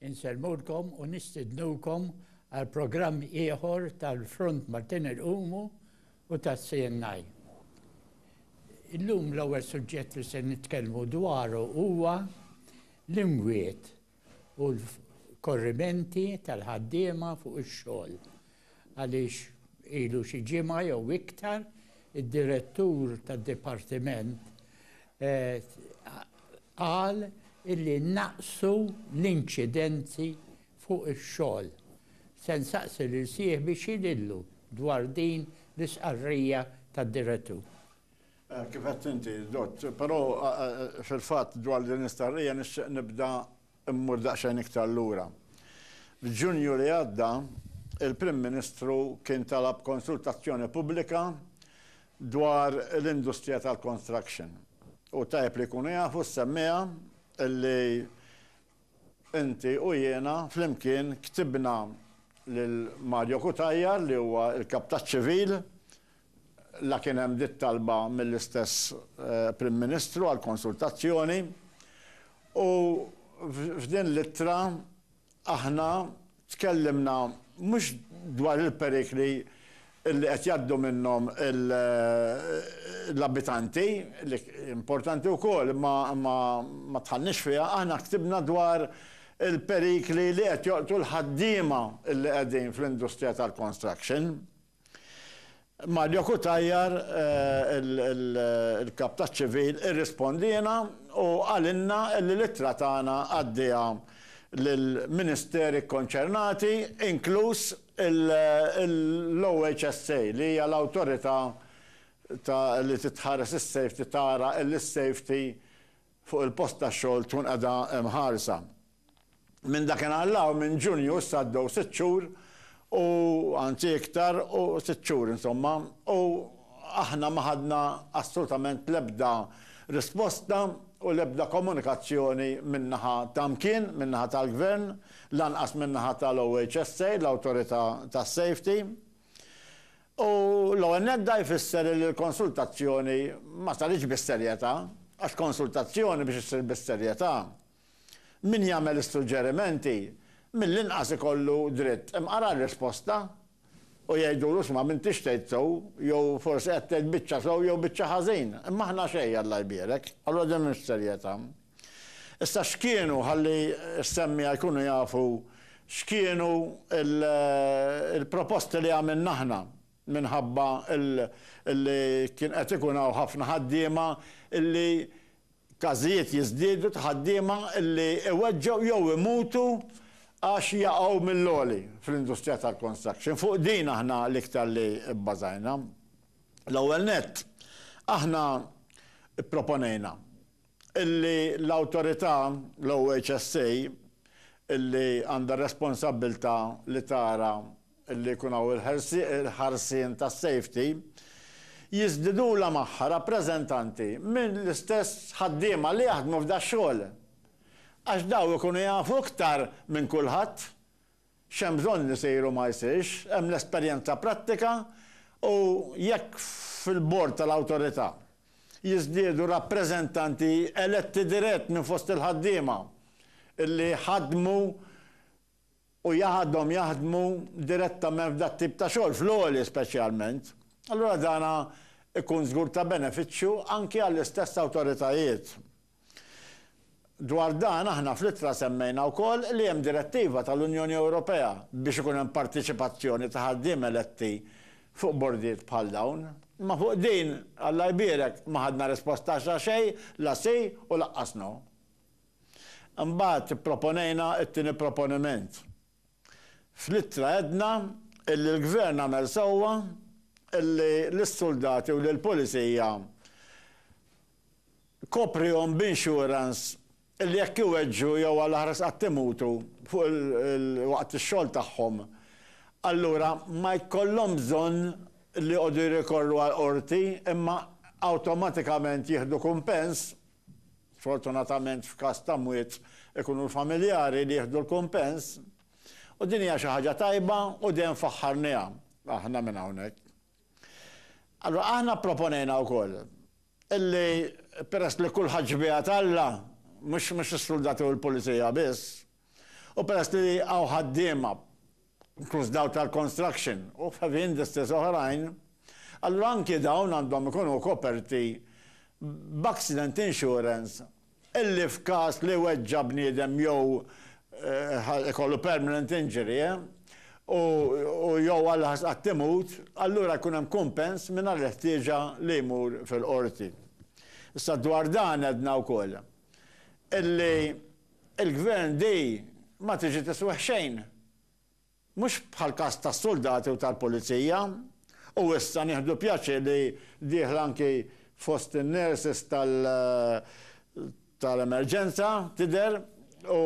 Insellmulkom u nistidnukom għal programm ieħor tal-Front Maltin Irqumu u tas-CNI. Illum l-ewwel suġġett li se nitkellmu dwaru huwa l-imwiet u l-korrimenti tal-ħaddiema fuq ix-xogħol. għaliex ilu xi ġimgħa jew iktar id-Direttur tad-Dipartiment qal illi naqsu l-inċidenti fuq ix-xogħol. Se nsaqsi lil sieħbi x'jidhirlu dwar din l-istqarrija tad-Direttur. Kif għedt inti, Dott. Però fil-fatt dwar din l-istqarrija nixtieq nibda Immur daqsxejn iktar lura. F'Ġunju li għadda, il-Prim Ministru kien talab konsultazzjoni pubblika dwar l-industrija tal-construction. U tajjeb li jkunu jafu s-semmiegħa li inti u jiena flimkien ktibna lil Mario Cutajar li huwa l-Kap taċ-Ċivil La kien hemm dik talba mill-istess Prim Ministru għal konsultazzjoni u f'din l-ittra aħna tkellimna mhux dwar il-perikli li qed jgħaddu minnhom l-abitanti, li importanti wkoll imma ma dħalniex fiha, aħna ktibna dwar il-perikli li qed joqtu l-ħaddiema li qegħdin fl-industrija tal-construction. Mario Cutajar, il-Kap taċ-Ċivil, irrispondiena u qalilna li l-ittra tagħna għaddieha lill-Ministeri kkonċernati, inkluż l-OHSA, li hija l-awtorità li titħares is-safety, tara li s-safety fuq il-post tax-xogħol tkun qiegħda mħarsa. Minn dakinhar 'l hawn, minn Ġunju, issa għaddew sitt xhur u, anzi iktar, u sitt xhur insomma, u aħna ma ħadna assolutament l-ebda risposta u l-ebda komunikazzjoni min-naħa ta' mkien, min-naħa tal-Gvern, lanqas min-naħa tal-OHSA, l-Awtorità tas-Safety. U l-ewwel nett da jfisser illi l-konsultazzjoni ma saritx bis-serjetà, għax konsultazzjoni biex issir bis-serjetà, min jagħmel is-suġġerimenti mill-inqas ikollu dritt imqara r-risposta u jgħidulu isma' m'intix tgħid sew jew forsi qed tgħid biċċa sew jew biċċa ħażin, imma aħna xejn Alla jbierek. Allura din mhix serjetà. Issa x'kienu, ħalli s-semmiegħa jkunu jafu x'kienu l-proposti li għamilna aħna minħabba li kien qed ikun hawn ħafna ħaddiema li każijiet jiżdiedu ta' ħaddiema li iweġġgħu jew imutu għax jaqgħu mill-għoli fl-industrija tal-construction. Fuq din aħna l-iktar li bbażajna. L-ewwel nett, aħna pproponejna Illi l-Awtorità, l-OHSA, illi għandha r-responsabbiltà li tara illi jkun hawn il-ħarsien tas-safety, jiżdidulha magħha rappreżentanti minn l-istess ħaddiema li jaħdmu f'dax-xogħol. Għax dawn ikunu jafu iktar minn kulħadd X'hemm bżonn li jsir u ma jsirx, hemm l-esperjenza prattika u jekk fil-bord tal-Awtorità jiżdiedu rappreżentanti eletti dirett minn fost il-ħaddiema li ħadmu u jagħdhom jaħdmu direttament f'dat tip ta' xogħol, fl-għoli speċjalment, allura dan ikun żgur ta' benefiċċju anki għall-istess awtoritajiet. Dwar dan aħna fl-ittra semmejna wkoll li hemm direttiva tal-Unjoni Ewropea biex ikun hemm partiċipazzjoni ta' ħaddiem eletti fuq bordijiet bħal dawn. Imma fuq din, Alla jbierek, ma ħadna risposta xa xejn, la si u laqqas no. Imbagħad ipproponejna t-tieni proponiment. Fl-ittra għedna illi l-Gvern għamel sewwa illi lis-suldati u lill-Pulizija koprihom b'insurance illi jekk iweġġgħu jew għall-aħras qatt imutu fuq waqt ix-xogħol tagħhom allura ma jkollhom bżonn li joqogħdu jirrikorru għall-Qorti imma awtomatikament jieħdu kumpens Sfortunatament f'każ ta' mwiet ikunu l-familjari li jieħdu l-kumpens u din hija xi ħaġa tajba u dejjem faħħarniha aħna minn hawnhekk. Allura aħna pproponejna wkoll illi peress li kulħadd xbieha t'Alla, mhux mhux is-suldati u l-pulizija biss, u peress li hawn ħaddiema inkluż dawk tal-construction u f'heavy industries oħrajn, allura anki dawn għandhom ikunu koperti b'accident insurance illi f'każ li weġġa' bniedem jew ikollu permanent injury u jew għall-aħħar qatt imut, allura jkun hemm kumpens mingħajr il-ħtieġa li jmur fil-qorti. Issa dwar dan għedna wkoll. illi l-Gvern di ma tiġi tiswih xejn. Mhux bħall-każ tas-suldati u tal-pulizija. U issa nieħdu pjaċir li dieħla anki fost in-nurses tal-emerġenza tidher u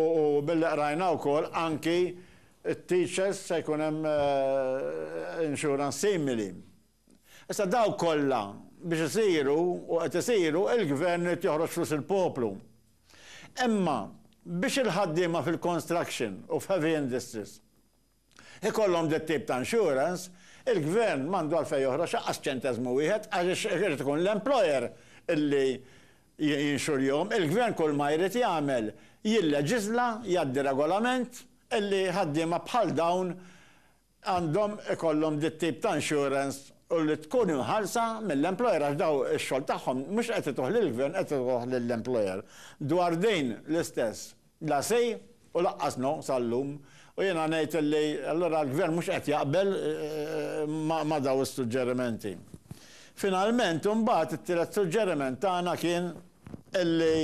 billi qrajna wkoll anki t-teachers se jkun hemm insurance simili. Issa dawk kollha biex isiru, u qed isiru, il-Gvern irid joħroġ flus il-poplu. Imma biex il-ħaddiema fil-construction u f'heavy industries ikollhom dat-tip ta' insurance, il-Gvern m'għandu għalfejn joħroġ lanqas ċenteżmu wieħed għaliex irid ikun l-employer li jinxurjhom. Il-Gvern kull ma jrid jagħmel jilleġiżla, jgħaddi regolament li ħaddiema bħal dawn għandhom ikollhom dit-tip ta' insurance u li tkun imħallsa mill-employer għax dawn ix-xogħol tagħhom mhux qed ituh lill-gvern qed ituh lill-employer. Dwar din l-istess la say u laqqas no sal-lum u jiena ngħid illi allura l-gvern mhux qed jaqbel ma' dawn is-suġġerimenti. Finalment imbagħad it-tielet suġġeriment tagħna kien illi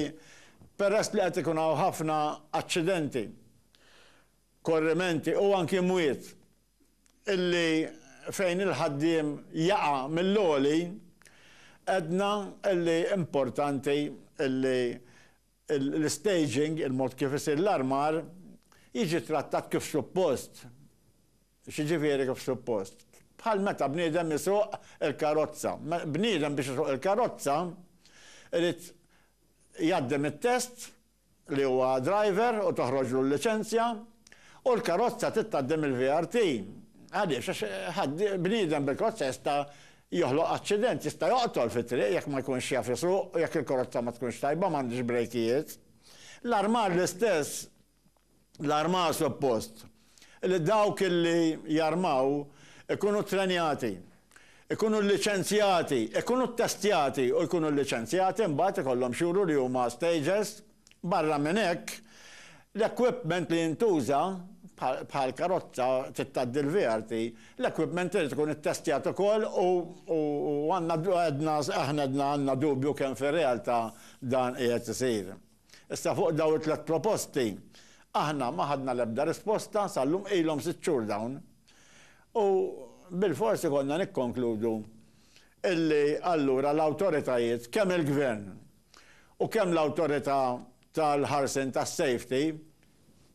peress li qed ikun hawn ħafna aċċidenti korrimenti u anki mwiet illi fejn il-ħaddiem jaqa' mill-għoli, għedna illi importanti illi l-istaging, il-mod kif isir l-armar, jiġi ttrattat kif suppost. X'jiġifieri kif suppost? Bħal meta bniedem isuq il-karozza. Bniedem biex isuq il-karozza irid jgħaddi mit-test li huwa driver u toħroġlu l-liċenzja, u l-karozza trid tgħaddi mill-VRT. Għaliex? Għax ħadd, bniedem bil-karozza jista' joħloq aċċident, jista' joqtol fit-triq jekk ma jkunx jaf isuq u jekk il-karozza ma tkunx tajba, m'għandhiex brejkijiet. L-armar l-istess. L-armar suppost li dawk li jarmaw ikunu ttrenjati, ikunu lliċenzjati, ikunu ttestjati u jkunu lliċenzjati mbagħad ikollhom x'juru li huma stagers. Barra minn hekk, l-equipment li jintuża, bħal karozza trid tgħaddi l-VRT, l-equipment irid ikun ittestjat ukoll u għandna, aħna għedna għandna dubju kemm fir-realtà dan qiegħed isir. Issa fuq dawn it-tliet proposti aħna ma ħadna l-ebda risposta sal-lum, ilhom sitt xhur dawn. U bilfors ikollna nikkonkludu illi allura l-awtoritajiet, kemm il-Gvern u kemm l-Awtorità tal-Ħarsien tas-Safety,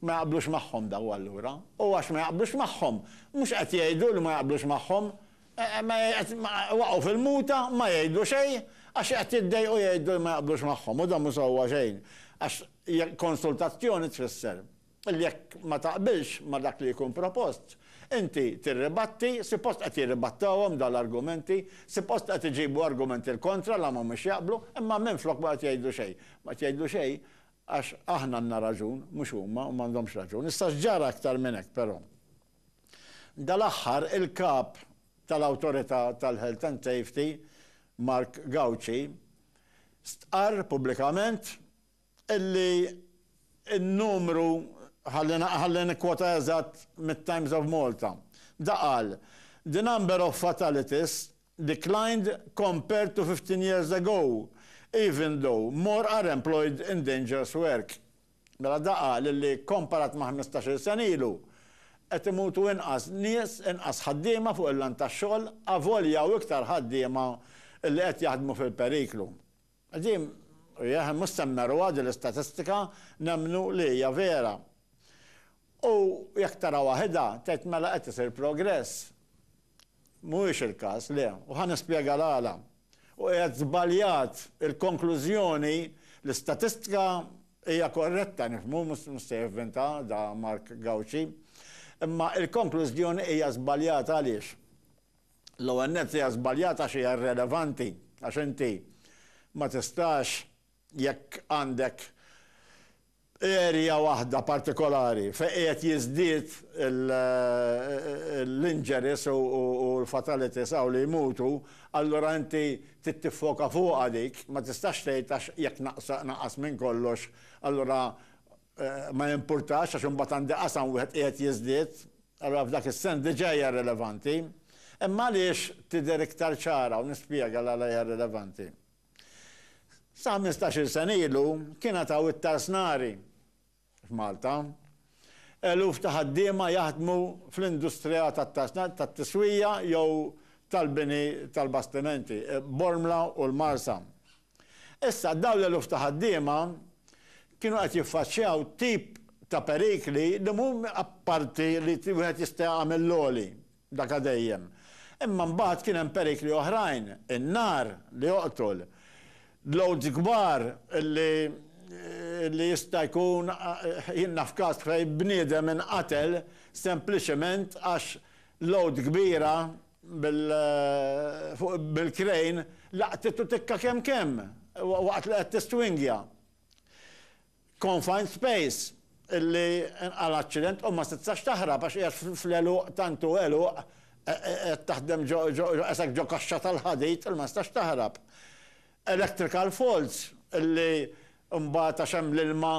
Ma jaqblux magħhom daw allura. U għax ma jaqblux magħhom, mhux qed jgħidu li ma jaqblux magħhom, waqgħu fil-muta, ma jgħidu xejn, għax qed jiddejqu jgħidu li ma jaqblux magħhom, u dan mhu sewwa xejn, għax konsultazzjoni tfisser li jekk ma taqbilx ma' dak li jkun propost, inti tirribatti, sipost qed jirribattawhom daw l-argumenti, sipost qed iġibu argumenti l-kontra la m'humiex jaqblu, imma minflok ma qed jgħidu xejn. Ma qed jgħidu xejn Għax aħna għandna raġun, mhux huma, huma m'għandhomx raġun. Issa x'ġara aktar minn hekk però? Dal-aħħar il-Kap tal-Awtorità tal-Health and Safety, Mark Gauci, stqarr pubblikament illi n-numru, ħalli nikkwota eżatt mit-Times of Malta, da qal, The number of fatalities declined compared to fifteen years ago, even though more are employed in dangerous work. Mela da qal illi kkomparat ma' ħmistax-il sena ilu, qed imutu inqas nies, inqas ħaddiema fuq il-lan tax-xogħol avolja hawn iktar ħaddiema li qed jaħdmu fil-periklu. Din hija, mhux se nmerruha din l-istatistika, nemmnu li hija vera. U jekk tara waħedha, tgħid mela qed isir progress. Mhuwiex il-każ, le, u ħa nispjega l-għala. U qiegħed żbaljat il-konklużjoni, l-istatistika hija korretta, nifhmu, mhux se jivvinta da Mark Gauci, imma l-konklużjoni hija żbaljata għaliex? L-ewwel nett hija żbaljata għax hija irrelevanti għax inti ma tistax jekk għandek area waħda partikolari fejn qiegħed jiżdied l-injuries u l-fatalities hawn li jmutu allura inti trid tiffoka fuqha dik ma tistax tgħid għax jekk naqas minn kollox allura ma jimpurtax għax imbagħad għandi qasam wieħed qiegħed jiżdied Allura f'dak is-sens diġà hija rilevanti. Imma għaliex tidher iktar ċara u nispjega l-għala hija rilevanti. Sa ħmistax-il sena ilu kien għad hawn it-tarsnari f'Malta. Eluf ta' ħaddiema jaħdmu fl-industrija tat-tarsnari, tat-tiswija jew tal-bini tal-bastimenti, Bormla u l-Marsa. Issa, dawn l-eluf ta' ħaddiema kienu qed jiffaċċjaw tip ta' perikli li mhu apparti li wieħed jista' jaqa' mill-għoli, daka dejjem. Imma mbagħad kien hemm perikli oħrajn, in-nar li joqtol, loads kbar li li jista' jkun, jien naf każ fejn bniedem inqatel sempliċement għax load kbira, bil-krejn, laqtitu tikka kemm kemm waqt li qed tistwingja. Confined space, illi inqala' l-aċċident u ma stitsax taħrab għax qiegħed fl-għeluq tant hu għeluq, qed taħdem ġo qesek ġo kaxxa tal-ħadid li ma tistax taħrab. Electrical faults, illi mbagħad għax hemm l-ilma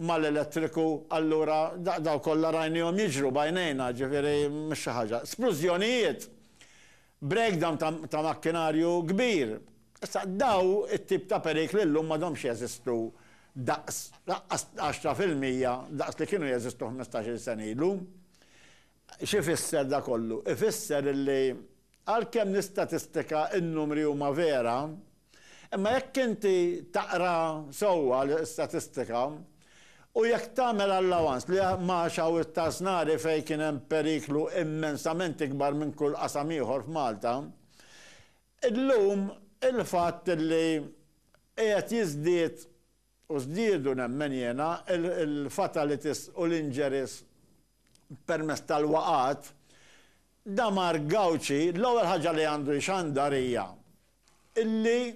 mal-elettriku allura dawn kollha rajniehom jiġru b'għajnejna, ġifieri mhux xi ħaġa. Splużjonijiet, breakdown ta' makkinarju kbir. Issa dawn it-tip ta' perikli llum m'għadhomx jeżistu daqs, lanqas għaxra fil-mija daqs li kienu jeżistu ħmistax-il sena ilu. X'ifisser dan kollu? Ifisser li għalkemm l-istatistika, in-numri huma vera, imma jekk inti taqra sewwa l-istatistika u jekk tagħmel allowance li Magħax hawn it-Tasnari fejn kien hemm periklu immensament ikbar minn kull qasam ieħor f'Malta, illum il-fatt li qiegħed jiżdied U żdiedu, nemmen jiena, il-fatalities u l-injuries permezz tal-waqgħat, Damar Gauci l-ewwel ħaġa li għandu jxandar hija illi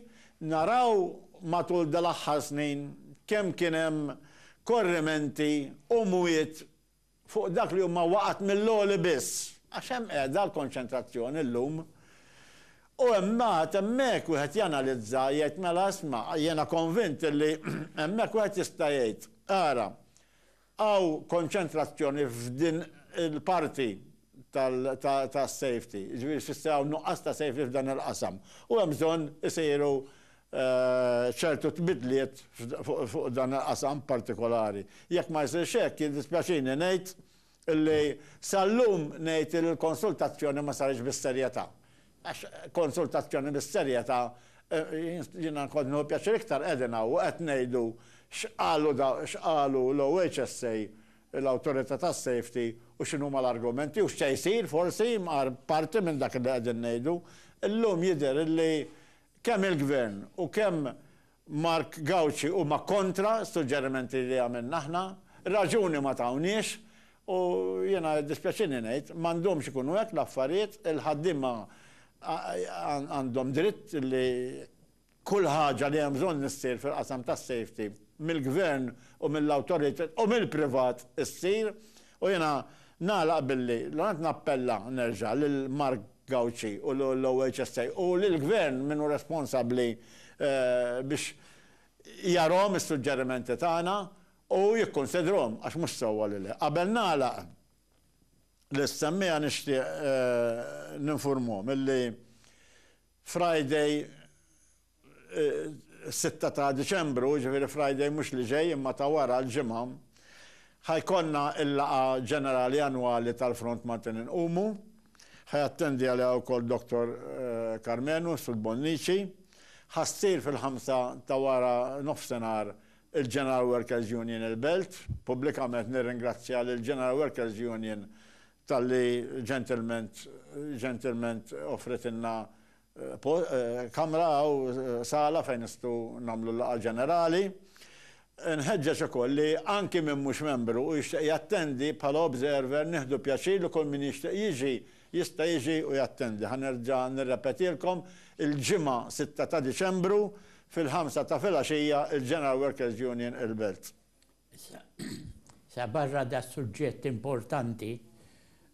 naraw matul dal-aħħar snin kemm kien hemm korrimenti u mwiet fuq dak li huma waqgħat mill-għoli biss, għax hemm qiegħda l-konċentrazzjoni llum. U imbagħad hemmhekk wieħed janalizza, jgħid mela isma', jiena konvint li hemmhekk wieħed jista' jgħid, ara, hawn konċentrazzjoni f'din il-parti tas-safety, jiġifieri jfisser hawn nuqqas ta' safety f'dan il-qasam u hemm bżonn isiru ċertu tbidliet fuq dan il-qasam partikolari. Jekk ma jsirx hekk, jiddispjaċini ngħid li sal-lum ngħid li l-konsultazzjoni ma saritx bis-serjetà. Għax konsultazzjoni bis-serjetà jiena kont nieħu pjaċir iktar qegħdin hawn u qed ngħidu x'qalu x'qalu l-OHSA, l-Awtorità tas-Safety u x'inhuma l-argumenti u x'se jsir forsi, parti minn dak li qegħdin ngħidu. Illum jidher li Kemm il-Gvern u kemm Mark Gauci huma kontra s-suġġerimenti li għamilna aħna. Raġuni ma tawniex u jiena jiddispjaċini ngħid, m'għandhomx ikunu hekk l-affarijiet, il-ħaddiema għandhom dritt li kull ħaġa li hemm bżonn issir fil-qasam tas-safety mill-Gvern u mill-awtoritajiet u mill-privat issir u jiena nagħlaq billi nappella nerġa' lil Mark Gauci u l-OHSA u lill-Gvern min hu responsabbli biex jarahom is-suġġerimenti tagħna u jikkunsidrhom għax mhux sewwa li le. Qabel nagħlaq l-istemmiegħa nixtieq ninfurmhom illi Friday is-sitta ta' Diċembru, jiġifieri Friday mhux li ġej imma ta' wara, l-Ġimgħa, ħa jkollna l-laqgħa ġenerali annwali tal-Front Malti Inqumu. Ħa jattendi għaliha wkoll Dottor Karmenu Sud Bonnici. Ħa ssir fil-ħamsa ta' wara nofsinhar il-General Workers Union il-Belt. Pubblikament nirringrazzja lill-General Workers Union talli ġentilment ġentilment offritilna kamra u sala fejn nistgħu nagħmlu l-laqgħa ġenerali. Nħeġġeġ ukoll li anki min mhux membru u jixtieq jattendi bħala observer nieħdu pjaċir li kull min jixtieq jiġi jista' jiġi u jattendi. Ħa nerġa' nirrepetilkom, il-Ġimgħa 6 ta' Diċembru fil-ħamsa ta' filgħaxija il-General Workers' Union il-Belt. Sa barra das-suġġett importanti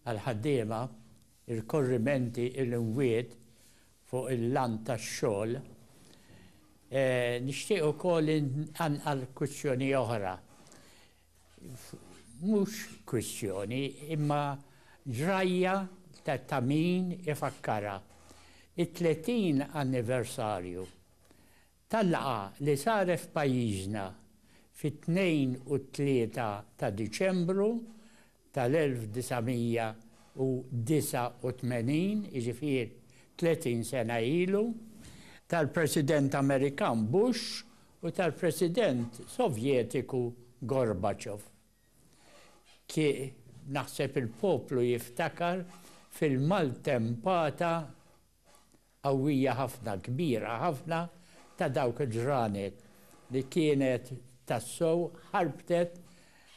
għall-ħaddiema, ir-rikorrimenti, il-imwiet fuq il-land tax-xogħol, nixtieq ukoll inqanqal kwistjoni oħra. Mhux kwistjoni, imma ġrajja ta' min ifakkarha. It-30 anniversarju Tal-laqgħa li saret f'pajjiżna fit-Tnejn u t-Tlieta ta' Diċembru tal-1989, jiġifieri 30 sena ilu, tal-President Amerikan Bush u tal-President Sovjetiku Gorbachev. Ki, naħseb il-poplu jiftakar fil-maltempata qawwija ħafna, kbira ħafna ta' dawk il-ġranet li kienet tassew ħarbtet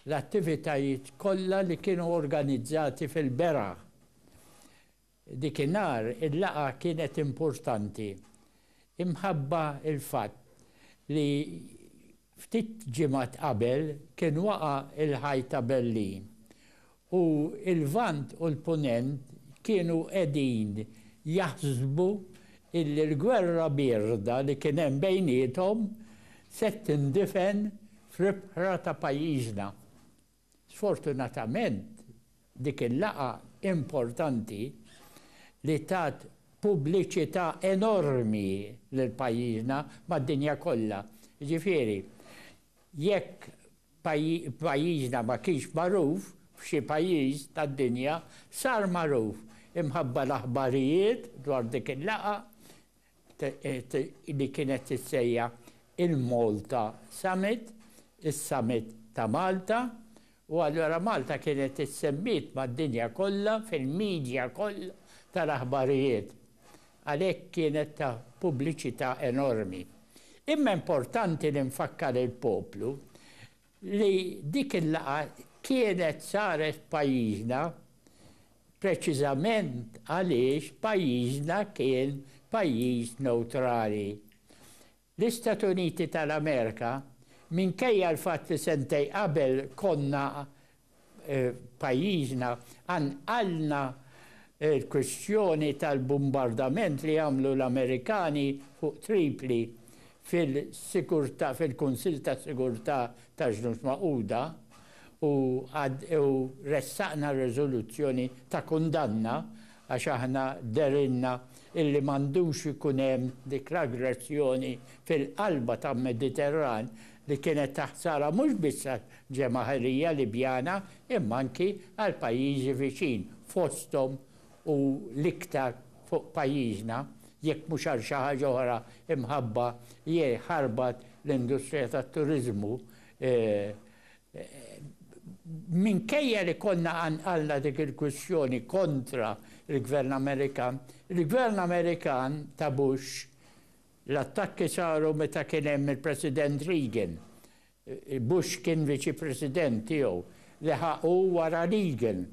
l-attivitajiet kollha li kienu organizzati fil-beraħ. Dikinhar il-laqgħa kienet importanti imħabba l-fatt li Ftit ġimgħat qabel kien waqa' l-Ħajt ta' Berlin u l-Lvant u l-Punent kienu qegħdin jaħsbu illi l-gwerra bierda li kien hemm bejniethom se tindifen fl-ibħra ta' pajjiżna. Sfortunatament, dik il-laqgħa importanti li tat pubbliċità enormi lil pajjiżna mad-dinja kollha, jiġifieri jekk pajjiżna ma kienx magħruf f'xi pajjiż tad-dinja, sar magħruf imħabba l-aħbarijiet dwar dik il-laqgħa, li kienet tissejjaħ il-Malta Summit, is-Summit ta' Malta, u allura Malta kienet issemmiet mad-dinja kollha fil-media kollha tal-aħbarijiet. Għalhekk kienet ta' pubbliċità enormi. Imma importanti li nfakkar il-poplu li dik il-laqgħa kienet saret f'pajjiżna preċiżament għaliex pajjiżna kien pajjiż newtrali. L-Istati Uniti tal-Amerika, minkejja l-fatt li sentejn qabel konna f'pajjiżna qanqalna l-kwistjoni tal-bumbardament li għamlu l-Amerikani fuq Tripli fil-sigurtà, fil-Kunsill ta' Sigurtà taż-Ġnus Magħquda u u ressaqna riżoluzzjoni ta' kundanna għax aħna dehrilna illi m'għandux ikun hemm dik l-aggressjoni fil-qalba tal-Mediterran li kienet ta' ħsara mhux biss għall-ġemagħirija Libjana imma anki għall-pajjiżi viċin, fosthom u l-iktar fuq pajjiżna, jekk mhux għal xi ħaġa oħra imħabba li ħarbat l-industrija tat-turiżmu minkejja li konna qanqalna dik il-kwistjoni kontra l-Gvern Amerikan, il-Gvern Amerikan ta' Bush L-attakki saru meta kien hemm il-President Reagan, Bush kien Viċi President tiegħu, leħaq hu wara Reagan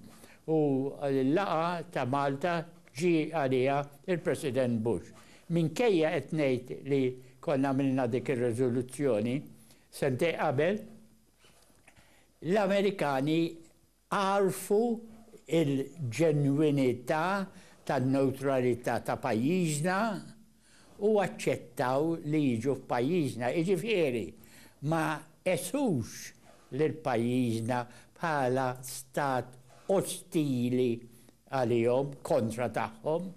u l-laqgħa ta' Malta ġie għaliha l-President Bush. Minkejja qed ngħid li konna għamilna dik ir-riżoluzzjoni sentejn qabel, l-Amerikani Agħrfu l-ġenwinità tan-newtralità ta' pajjiżna u aċċettaw li jiġu f'pajjiżna, jiġifieri ma qesux lil pajjiżna bħala stat ostili għalihom, kontra tagħhom.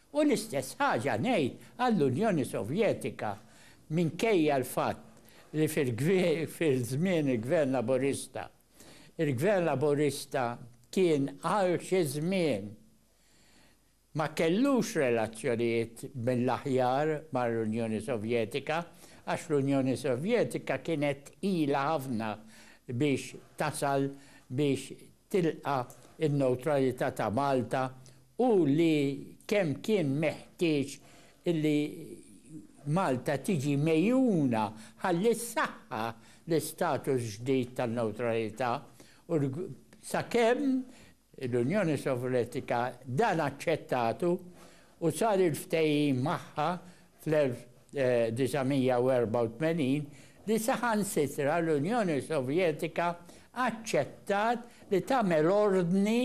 U l-istess ħaġa ngħid għall-Unjoni Sovjetika, minkejja l-fatt li fil-żmien il-Gvern Laburista, Il-Gvern Laburista kien għal xi żmien ma kellux relazzjonijiet mill-aħjar mal-Unjoni Sovjetika għax l-Unjoni Sovjetika kienet tqila ħafna biex tasal biex tilqa' n-newtralità ta' Malta u li kemm kien meħtieġ illi Malta tiġi megħjuna ħalli ssaħħaħ l-istatus ġdid tan-newtralità u sakemm l-Unjoni Sovjetika dan aċċettatu u sar il-ftehim magħha fl-1984 li saħansitra l-Unjoni Sovjetika aċċettat li tagħmel ordni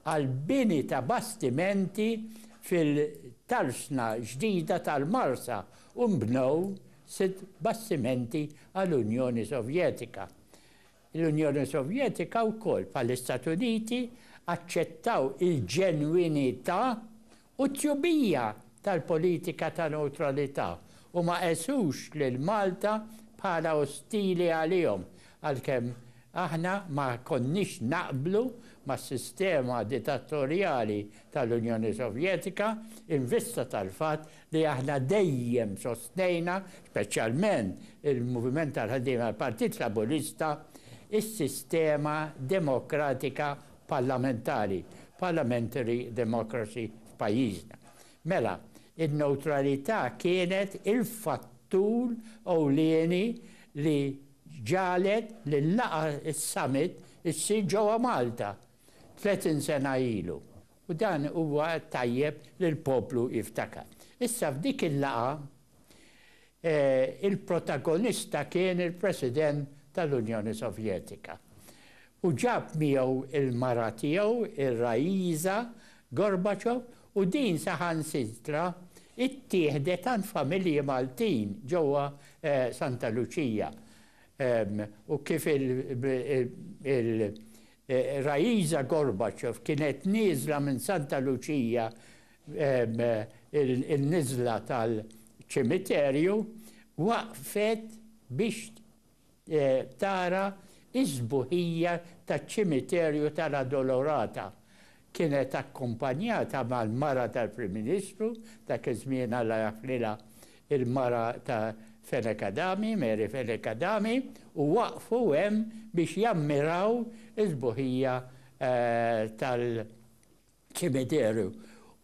għall-bini ta' bastimenti fil-tarsna ġdida tal-Marsa u nbnew sitt bastimenti għall-Unjoni Sovjetika. L-Unjoni Sovjetika wkoll, bħall-Istati Uniti, aċċettaw il-ġenwinità u t-tjubija tal-politika ta' newtralità u ma qesux lil Malta bħala ostili għalihom, għalkemm aħna ma konniex naqblu mas-sistema ditatorjali tal-Unjoni Sovjetika in vista tal-fatt li aħna dejjem sostnejna, speċjalment il-Moviment tal-Ħaddiema tal-Partit Laburista, is-sistema demokratika parlamentari, parliamentary democracy f'pajjiżna. Mela, in-newtralità kienet il-fattur ewlieni li ġagħlet li l-laqgħa, is-summit, issir ġewwa Malta tletin sena ilu. U dan huwa tajjeb li l-poplu jiftakar. Issa f'dik il-laqgħa il-protagonista kien il-President tal-Unjoni Sovjetika u ġab miegħu l-mara tiegħu r-Raisa Gorbachev u din saħansitra ttieħdet għand familji Maltin ġewwa Santa Luċija u kif Raisa Gorbachev kienet nieżla minn Santa Lucia in-niżla tal-ċimiterju waqfet biex tara s-sbuħija taċ-ċimiterju tal-Addolorata Kienet akkumpanjata mal-mara tal-Prim Ministru, dak iż-żmien Alla jaħfrilha, il-mara ta' Fenech Adami, Mary Fenech Adami, u waqfu hemm biex jammiraw is-sbuħija tal-ċimiterju.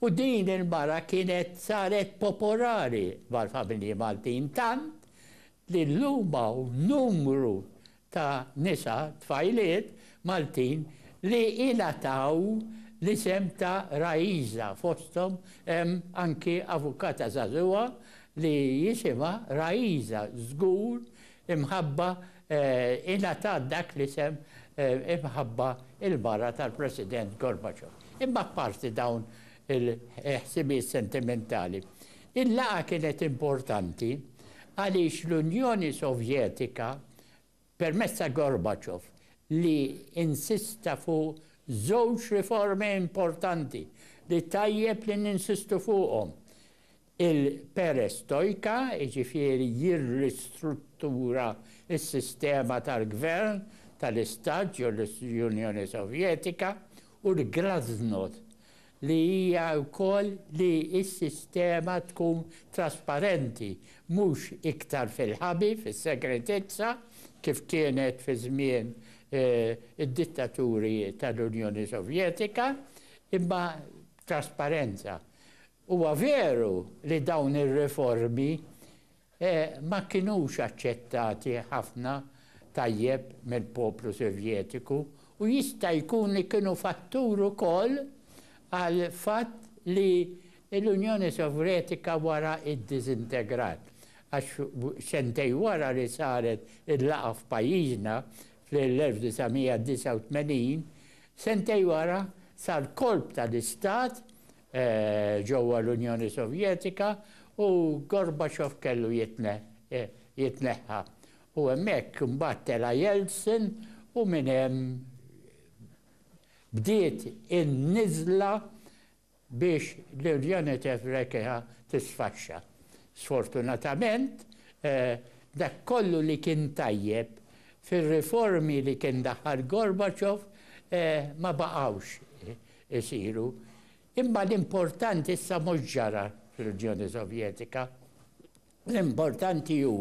U din il-mara kienet saret popolari mal-familji Maltin tant li llum hawn numru ta' nisa, tfajliet, Maltin li ingħataw l-isem ta' Raisa, fosthom hemm anki avukata żagħżugħa li jisimha Raisa, żgur imħabba ingħatat dak l-isem imħabba l-mara tal-President Gorbachev. Imma apparti dawn il-ħsibijiet sentimentali. Il-laqgħa kienet importanti għaliex l-Unjoni Sovjetika, permezz ta' Gorbachev, li insista fuq żewġ riformi importanti li tajjeb li ninsistu fuqhom, Il-perestojka, jiġifieri jirristruttura s-sistema tal-gvern tal-Istat ġo l-Unjoni Sovjetika, u l-glasnost, li hija wkoll li s-sistema tkun trasparenti, mhux iktar fil-ħabi, fis-segretezza, kif kienet fi żmien id-dittaturi tal-Unjoni Sovjetika, imma b'trasparenza. Huwa veru li dawn ir-riformi ma kinux aċċettati ħafna tajjeb mill-poplu Sovjetiku u jista' jkun li kienu fattur ukoll għall-fatt li l-Unjoni Sovretika wara iddiżintegrat, għax sentejn wara li saret il-laqgħa f'pajjiżna fl-1989, sentejn wara sar kolp tal-istat ġewwa l-Unjoni Sovjetika u Gorbachev kellu jitneħħa. U hemmhekk imbagħad tela' Yeltsin u minn hemm bdiet in-niżla biex l-Unjoni Sovjetika tisfaxxa. Sfortunatament, dak kollu li kien tajjeb fir-riformi li kien daħħal Gorbachev ma baqgħux. isiru. Imma l-importanti issa mhux ġara fl-Unjoni Sovjetika. L-importanti hu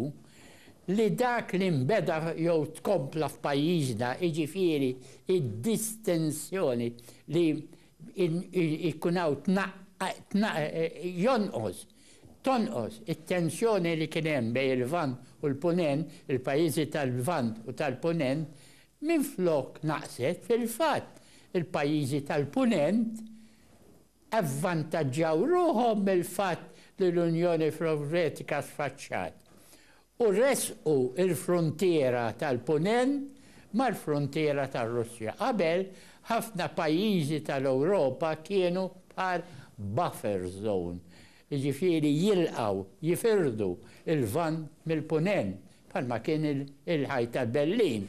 li dak li nbeda jew tkompla f'pajjiżna, jiġifieri d-distensjoni li jkun hawn jonqos, tonqos it-tensjoni li kien hemm bejn il-Lvant u l-Punent, il-pajjiżi tal-Lvant u tal-Punent, Minflok naqset, fil-fatt il-pajjiżi tal-Punent avvantaġġaw ruħhom mill-fatt li l-Unjoni Sovjetika sfaxxat u ressqu l-fruntiera tal-Punent mal-fruntiera tar-Russja. Qabel, ħafna pajjiżi tal-Ewropa kienu bħal buffer zone jiġifieri jilqgħu, jifirdu, il-Lvant mill-Punent, bħalma kien il-Ħajt ta' Berlin.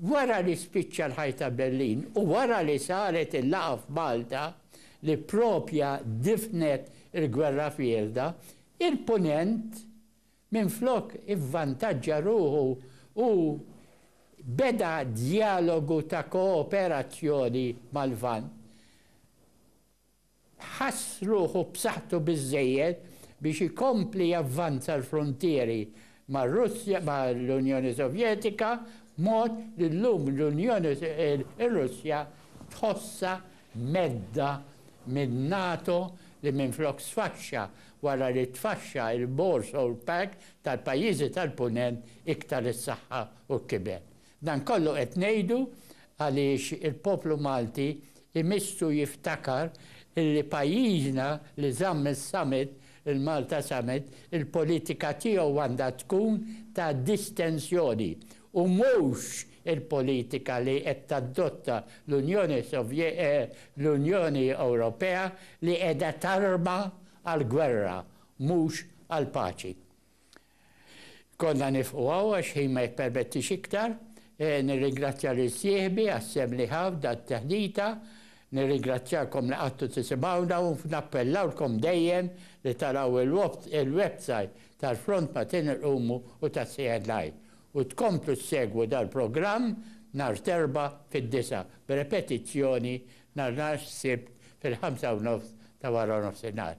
Wara li spiċċa l-Ħajt ta' Berlin u wara li saret il-laqgħa f'Malta li proprja difnet il-Gwerra Fierda, il-Punent minflok ivvantaġġa ruħu u beda djalogu ta' kooperazzjoni mal-Lvant. ħass ruħu b'saħħtu biżżejjed biex ikompli javvanza l-fruntieri mar-Russja mal-Unjoni Sovjetika b'mod li llum l-Unjoni r-Russja tħossha mhedda min-NATO li minflok sfaxxa wara li tfaxxa l-Warsaw Pact tal-pajjiżi tal-Punent iktar issaħħaħ u kiber. Dan kollu qed ngħidu għaliex il-poplu Malti jmissu jiftakar illi pajjiżna li żamm is-summit, il-Malta Summit, il-politika tiegħu għandha tkun ta' distensjoni u mhux il-politika li qed tadotta l-Unjoni l-Unjoni Ewropea li qiegħda tarma għall-gwerra mhux għall-paċi. Konna nifqu hawn għax ħin ma jippermettix iktar. Nirringrazzja lil sieħbi għas-sehem li ħa f'dan it-teħdita. Nirringrazzjakom li qgħadtu tisimgħuna u nappellawlkom dejjem li taraw il-websajt tal-Front Matin Irqumu u ta' CNI u tkomplu ssegwu dal-programm nhar t'Erbgħa fid-disgħa b'repetizzjoni nhar Sibt fil-ħamsa u nofs ta' waranofsinhar.